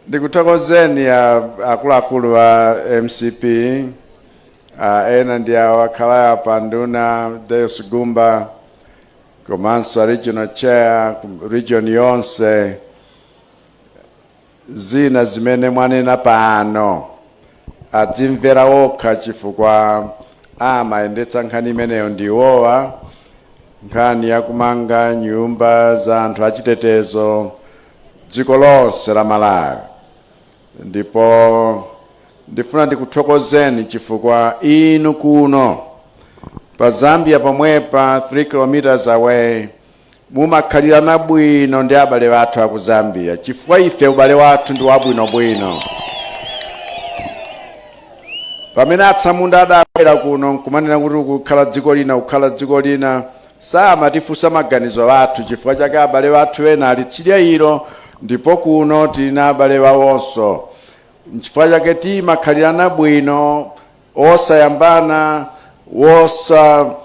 ndikuthokozeni a- akuluakulu a mcp a ena ndi awo akhala apa nduna Deus Gumba komanso a regional chair region yonse zina zimene mwanena pano adzimvera okha chifukwa amayendetsa nkhani imeneyo ndi iwowa nkhani yakumanga nyumba za anthu achitetezo dziko lonse la Malawi ndipo ndifuna ndikuthokozeni chifukwa inu kuno pa Zambia pomwepa 3 kilometers away mumakhalirana bwino ndi abale wathu aku Zambia chifukwa ife ubale wathu ndi wabwinobwino pamene atsamunda adabwera kuno nkumanena kuti kukhala dziko lina kukhala dziko lina Samatifunsa maganizo athu, chifukwa chake abale wathu ena ali tsidya ilo, ndipo kuno tili na abale awonso. N'chifukwa chake timakhalirana bwino, osayambana, osachita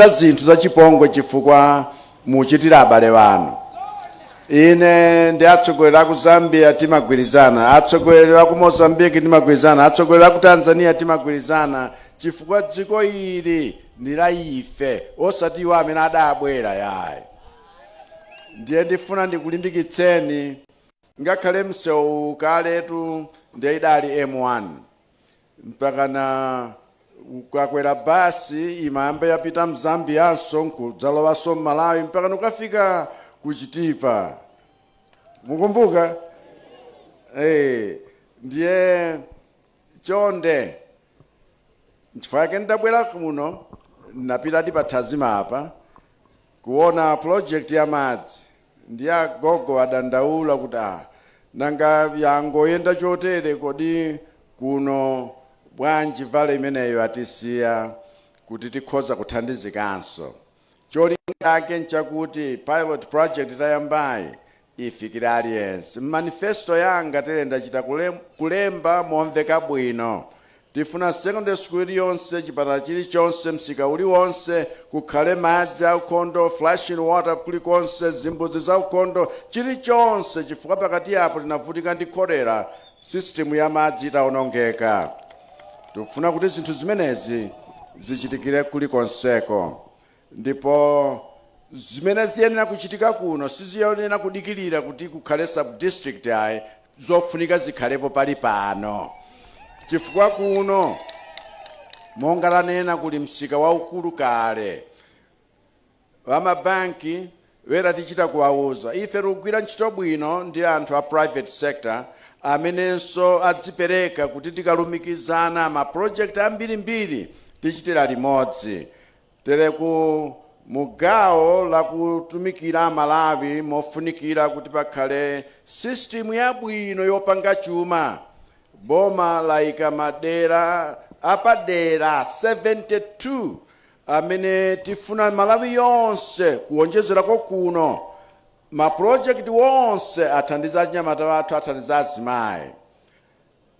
zinthu zachipongwe chifukwa muchitira abale wanu. Ine ndi atsogoleri aku Zambia timagwirizana, atsogoleri aku Mozambique timagwirizana, atsogoleri aku Tanzania timagwirizana chifukwa dziko ili ndi la ife osati iwo amene adabwera yayi. Ndiye ndifuna ndikulimbikitseni ngakhale msewu kaletu ndiye idali M1 mpakana ukakwera basi imayamba yapita m'Zambianso nkudzalowanso m'Malawi mpakana ukafika ku Chitipa mukumbuka ndiye chonde nchifukwa chake ndabwera kuno napita ndi pa Thazima apa kuona project ya madzi Ndiye agogo adandaula kuti, ah, nanga yangoyenda chotere kodi kuno bwanji valve imeneyo atisiya kuti tikhoza kuthandizikanso. Cholinga chake nchakuti pilot project tayambayi ifikire aliyense. M'manifesto yanga tere ndachita kulemba momveka bwino Tifuna secondary school iliyonse, chipatala chilichonse, msika uliwonse, kukhale madzi aukhondo, flushing water, kulikonse, zimbudzi zaukhondo, chilichonse chifukwa pakati apo tinavutika ndi cholera system ya madzi itaonongeka. Tifuna kuti zinthu zimenezi zichitikire kulikonseko. Ndipo zimene ziyenera kuchitika kuno siziyenera kudikilira kuti kukhale sub district ayi zofunika zikhalepo pali pano chifukwa kuno monga tanena kuli msika waukulu kale wamabanki wera tichita kuwauza ife tikugwira ntchito bwino ndi anthu a private sector amenenso adzipereka kuti tikalumikizana ma project ambirimbiri tichitira limodzi Tere kumugawo la kutumikira Malawi mofunikira kuti pakhale system yabwino yopanga chuma boma laika madera apadera 72 amene tifuna malawi yonse kuwonjezerako kuno ma project onse athandiza achinyamata athu athandiza azimayi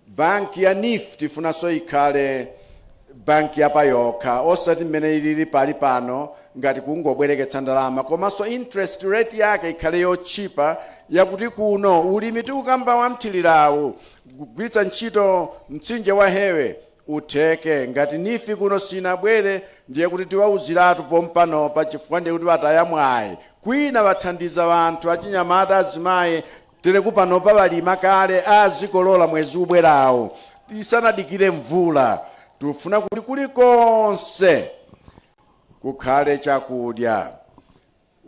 Bank ya neef tifunanso ikhale Bank ya payokha osati mmene ilili pali pano ngati kungobwereketsa ndalama komanso interest rate yake ikhale yotchipa yakuti kuno ulimi tikukamba wa mthirirawu kugwiritsa ntchito mtsinje wa hewe utheke ngati neef kuno sinabwere ndiye kuti tiwauziratu pompanopa chifukwa ndiye kuti wataya mwayi kwina wathandiza wanthu achinyamata azimayi Tere kupanopa walima kale azikolola mwezi ubwerawu tisanadikire mvula. Tifuna kuti kulikonse kukhale chakudya.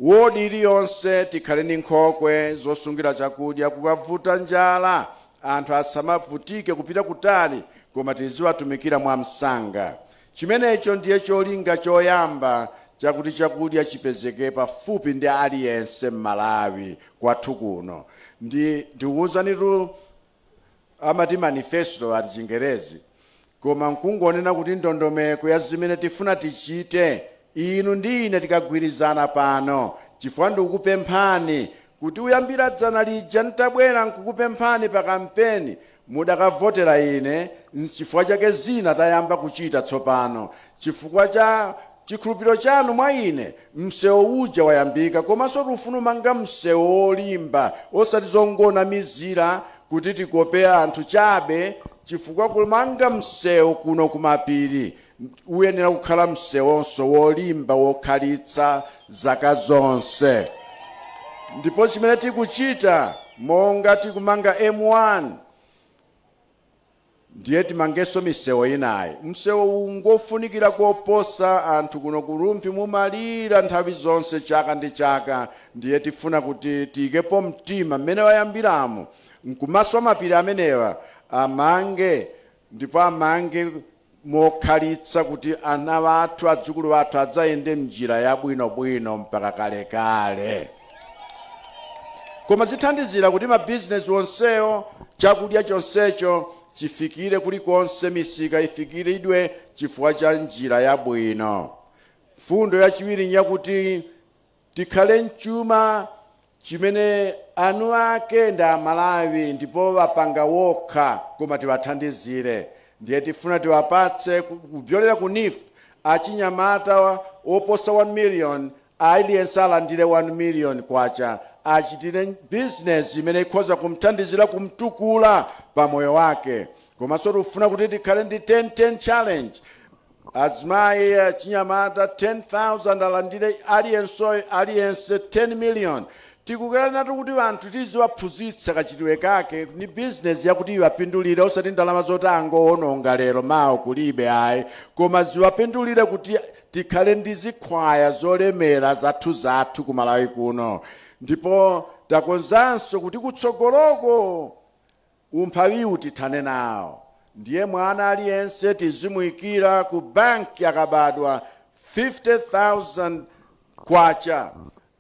Ward iliyonse tikhale ndi nkhokwe zosungira chakudya kukavuta njala anthu asamavutike kupita kutali koma tiziwatumikira mwamsanga. Chimenecho ndiye cholinga choyamba chakuti chakudya chipezeke pafupi ndi aliyense m'Malawi kwathu kuno ndi ndikuuzanitu amati manifesto ati chingerezi koma nkungonena kuti ndondomeko ya zimene tifuna tichite inu ndi ine tikagwirizana pano chifukwa ndikukupemphani kuti uyambira dzana lija ntabwera nkukupemphani pa kampeni mudakavotera ine chifukwa chake zina tayamba kuchita tsopano chifukwa cha chikhulupiriro chanu mwa ine msewo uja wayambika komanso tifuna umanga msewo wolimba osati zongonamizira kuti tikope anthu chabe chifukwa kumanga msewu kuno kumapiri Uyenera kukhala msewonso wolimba wokhalitsa zaka zonse. Ndipo chimene tikuchita monga tikumanga M1 ndiye timangenso misewo inayi. Msewo uwu ngofunikira koposa, anthu kuno ku Rumphi mumalira nthawi zonse chaka ndi chaka ndiye tifuna kuti tiyikepo mtima mmene wayambiramu nkumaswa mapiri amenewa amange Ndipo amange mokhalitsa, kuti ana athu, adzukulu athu, adzayende m'njira yabwinobwino mpaka kalekale. Koma zithandizira kuti mabizinesi onsewo, chakudya chonsecho chifikire kulikonse, misika ifikiridwe chifukwa cha njira yabwino. Mfundo yachiwiri n'yakuti Tikhale m'chuma chimene eni ake ndi aMalawi ndipo apanga wokha koma tiwathandizire ndiye tifuna tiwapatse kupyolera ku NEEF achinyamata oposa 1 million aliyense alandire 1 million kwacha achitire business imene ikhoza kumthandizira kumtukula pamoyo wake komanso tifuna kuti tikhale ndi 10 10 challenge Azimayi, achinyamata 10,000 alandire aliyenseyo aliyense 10 million tikukhaliranatu kuti anthu tiziwaphunzitsa kachitidwe kake ni business yakuti iwapindulire osati ndalama zoti angowononga lero mawa kulibe ayi koma ziwapindulire kuti tikhale ndi zikhwaya zolemera zathuzathu ku Malawi kuno ndipo takonzanso kuti kutsogoloko Umphawiwu tithane nawo ndiye mwana aliyense tizimuikira ku bank akabadwa K50,000.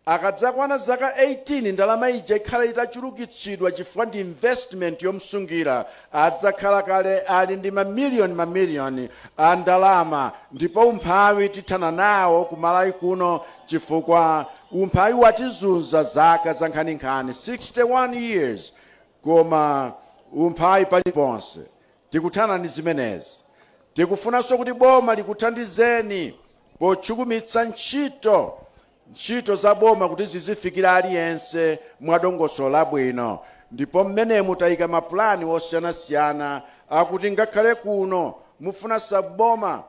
Akadzakwana zaka 18 ndalama ija ikhala itachulukitsidwa chifukwa ndi investment yomsungira. Adzakhala kale ali ndi ma million ma million a ndalama ndipo umphawi tithana nawo ku Malawi kuno chifukwa umphawi watizunza zaka zankhaninkhani 61 years. Koma umphawi paliponse tikuthana ndi zimenezi. Tikufunanso kuti boma likuthandizeni pothukumitsa ntchito ntchito za boma kuti zizifikira aliyense mwadongosolo labwino ndipo mmenemu tayika mapulani osiyanasiyana akuti ngakhale kuno mufuna sub-boma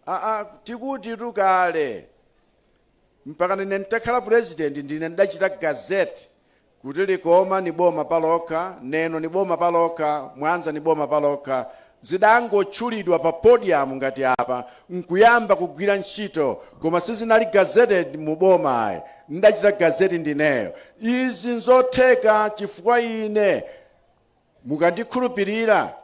aa tikutitu kale mpaka nine n'takhala pulezidenti ndine ndidachita gazette Kuti Likoma ni boma palokha, Neno ni boma palokha, Mwanza ni boma palokha, zidangotchulidwa pa podium ngati apa nkuyamba kugwira ntchito koma sizinali gazetted mu boma ayi, n'dachita gazette ndineyo. Izi n'zotheka chifukwa ine. Mukandikhulupirira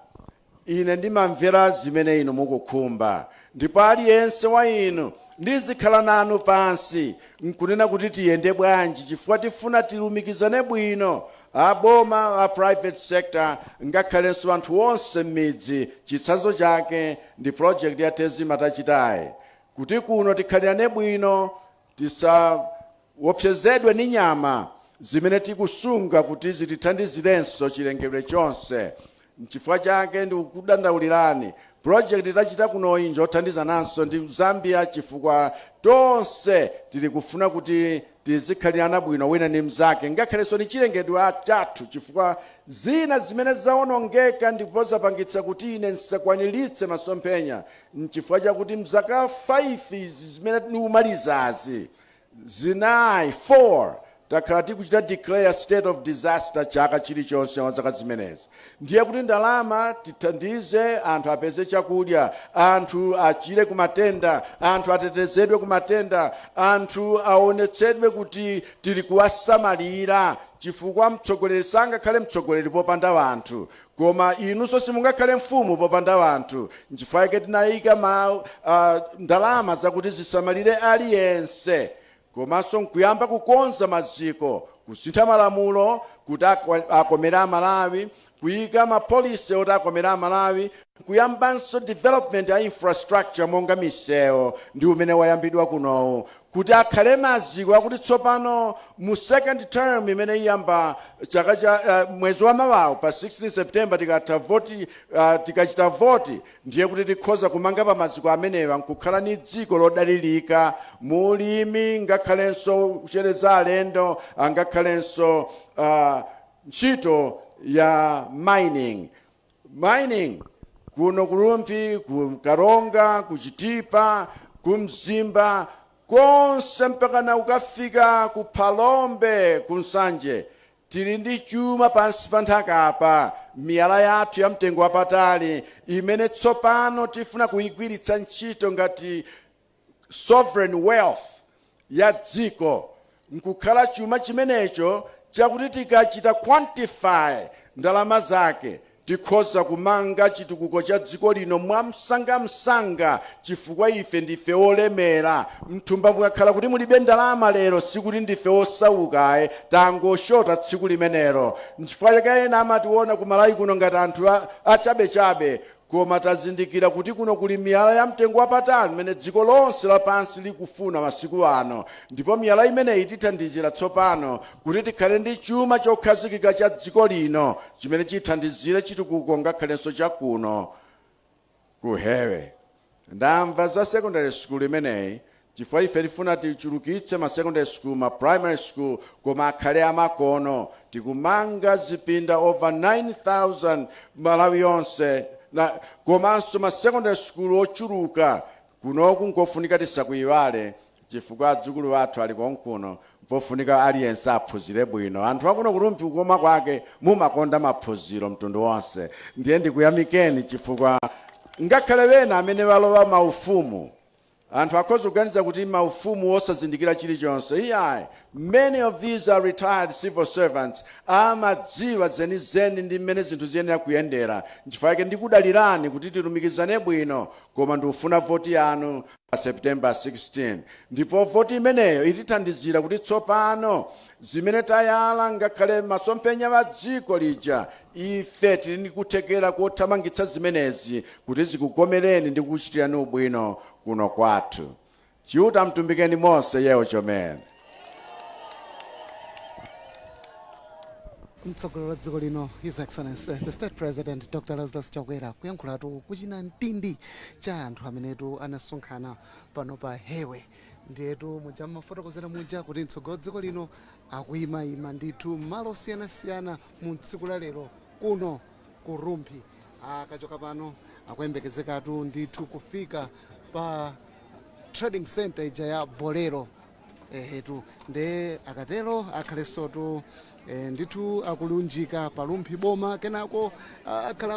ine, ndimamvera zimene inu mukukhumba, ndipo aliyense wa inu ndizikhala nanu pansi n'kunena kuti tiyende bwanji chifukwa tifuna tilumikizane bwino, a boma, a private sector, ngakhalenso anthu onse m'midzi. Chitsanzo chake ndi project ya Tezima tachitayi kuti kuno tikhalirane bwino. Tisawopsezedwe ndi nyama zimene tikusunga kuti zitithandizirenso chilengedwe chonse. Nchifukwa chake ndikukudandaulirani, project tachita kunoyi njothandizananso ndi ku Zambia chifukwa tonse tili kufuna kuti tizikhalirana bwino wina ndi mzake ngakhalenso ndi chilengedwe chathu chifukwa zina zimene zawonongeka ndipo zapangitsa kuti ine nsakwaniritse masomphenya N'chifukwa chakuti m'zaka 5 izi zimene ndikumalizazi, zinayi, 4, takhala tikuchita declare state of disaster chaka chilichonse mwa zaka zimenezi. Ndiye kuti ndalama tithandize anthu apeze chakudya, anthu achire ku matenda, anthu atetezedwe ku matenda, anthu aonetsedwe kuti tili kuwasamalira chifukwa mtsogoleri sangakhale mtsogoleri popanda anthu. Koma inunso simungakhale mfumu popanda anthu. N'chifukwa chake tinaika ndalama zakuti zisamalire aliyense komanso n'kuyamba kukonza maziko, kusintha malamulo kuti akomere Amalawi, kuika mapolicy oti akomere Amalawi, n'kuyambanso development ya infrastructure monga misewu ndi umene wayambidwa kunowu, kuti akhale maziko akuti tsopano mu second term imene iyamba chaka cha uh, mwezi wa mawawu pa 16 september tikatha voti uh, tikachita voti ndiye kuti tikhoza kumanga pa maziko amenewa nkukhala ni dziko lodalirika mu ulimi ngakhalenso kuchereza alendo angakhalenso uh, ntchito ya mining mining kuno ku Rumphi ku Karonga ku Chitipa ku Mzimba konse mpakana kukafika ku Phalombe ku Nsanje tili ndi chuma pansi pa nthaka apa miyala yathu ya mtengo wapatali imene tsopano tifuna kuyigwiritsa ntchito ngati sovereign wealth, ya dziko nkukhala chuma chimenecho chakuti tikachita quantify ndalama zake tikhoza kumanga chitukuko cha dziko lino mwamsangamsanga chifukwa ife ndife olemera. Mthumba mukakhala kuti mulibe ndalama lero sikuti ndife osauka ayi, tangoshota tsiku limenelo. Nchifukwa chake ena amationa ku Malawi kuno ngati anthu a, achabechabe Koma tazindikira kuti kuno kuli miyala ya mtengo wapatali imene dziko lonse lapansi likufuna masiku ano, ndipo miyala imeneyi itithandizira tsopano kuti tikhale ndi chuma chokhazikika cha dziko lino chimene chithandizire chitukuko ngakhalenso cha kuno ku Hewe. Ndamva za secondary school imeneyi chifukwa ife tifuna tichulukitse ma secondary school, ma primary school koma akhale amakono. Tikumanga zipinda over 9,000 Malawi yonse, komanso ma secondary school ochuluka. Kunoku nkofunika tisakuiwale, chifukwa adzukulu athu ali konkuno mpofunika aliyense aphunzire bwino anthu akuno ku Rumphi kukoma kwake mumakonda maphunziro mtundu wonse ndiye ndikuyamikeni chifukwa ngakhale wena amene walowa maufumu anthu akhoza kuganiza kuti maufumu wosazindikira chilichonse iyayi many of these are retired civil servants amadziwa zenizeni ndi mmene zinthu ziyenera kuyendera nchifukwa yake ndikudalirani kuti tilumikizane bwino koma ndikufuna voti yanu pa September 16, ndipo voti imeneyo itithandizira kuti tsopano zimene tayala ngakhale masomphenya a dziko lija ife tili ndi kuthekera kothamangitsa zimenezi kuti zikukomereni ndi kuchitirani ubwino kuno kwathu. Chiuta mutumbikeni mose yewo chomene. mtsogoleri wa dziko lino his excellency the state president dr lazarus chakwera kuyankhulatu ku chinamtindi cha anthu amenetu anasonkhana pano pa hewe ndiyetu muja mmafotokozera muja kuti mtsogoleri wa dziko lino akuyimayima ndithu mmalo osiyanasiyana mu tsiku la lero kuno ku rumphi akachoka pano akuyembekezekatu ndithu kufika pa trading center ija ya bolero ehetu nde akatero akhalensotu ndithu akulunjika pa Rumphi boma kenako ah, akhala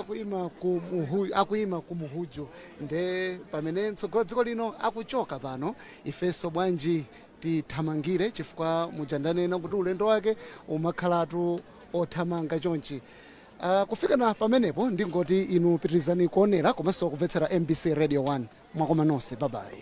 akuima ku Mhuju nde pamene mtsogoleri wa dziko lino akuchoka pano ifenso bwanji tithamangire chifukwa muja ndanena kuti ulendo wake umakhalatu othamanga chonchi Uh, kufika na pamenepo ndingoti inu pitirizani kuonera komanso kumvetsera mbc radio 1 mwakoma nonse babayi